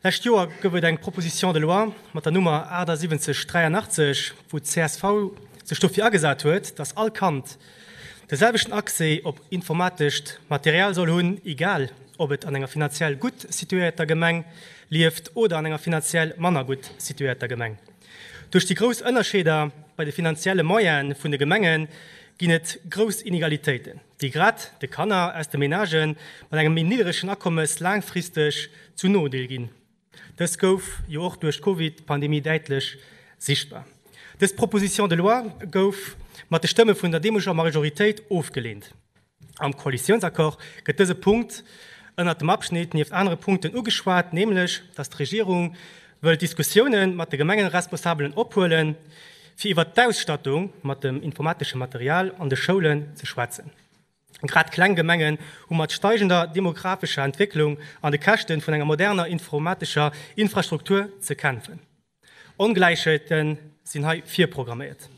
Lescht Joer gouf et eng Proposition de loi mat der Nummer 7883, wou csv sech dofir agesat huet, dass all Kand de selwechten Accès op informatescht Material soll hunn, egal ob et an enger finanziell gutt situéierter Gemeng lieft oder an enger finanziell manner gutt situéierter Gemeng. Duerch déi grouss Ënnerscheeder bei de finanzielle Moyene vun de Gemenge ginn et grouss Inegalitéiten. déi grad de Kanner aus de Menagen mat engem méi nidderegen Akommes laangfristeg zum Nodeel ginn. Dëst gouf jo och duerch d'Covid-Pandemie däitlech sichtbar. Dës Proposition de loi gouf mat de Stëmme vun der deemoleger Majoritéit ofgelehnt. Am Koalitiounsaccord gëtt dëse Punkt ënnert dem Abschnitt nieft anere Punkten ugeschwat, nämlech datt d'Regierung wëll d'Diskussioune mat de Gemengeresponsabelen ophuelen, fir iwwert d'Ausstattung mat dem informateschem Material an de Schoulen ze schwätzen. Grad kleng Gemengen hu mat steigender demographescher Entwécklung an de Käschte vun enger moderner informatescher Infrastruktur ze kämpfen. Ongläichheete sinn hei virprogramméiert.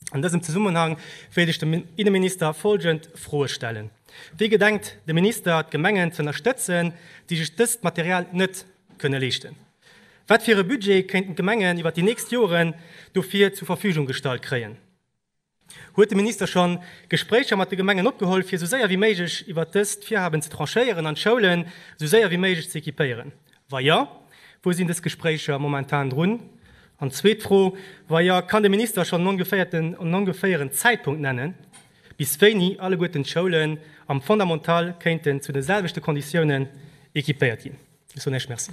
An dësem Zesummenhang wéilt ech dem Inneminister folgend Froe stellen, Wéi gedenkt de Minister d'Gemengen ze ënnerstëtzen, déi sech dëst Material net kënne leeschten? Wat fir e Budget kéinten d'Gemengen iwwert déi nächst Joren dofir zur Verfügung gestallt kréien? Huet de Minister scho Gespréicher mat de Gemengen opgeholl, fir esou séier wéi méiglech iwwert dëst Virhaben ze tranchéieren an d'Schoulen esou séier wéi méiglech ze equipéieren? Wa jo, wou sinn dës Gespréicher momentan drun? An zweet Fro, Wa jo, kann de Minister schonn en ongeféieren Zäitpunkt nennen, bis wéini alleguerten d'Schoulen am Fondamental kéinten zu de selwechte Konditiounen equipéiert ginn? Ech soen Iech Merci.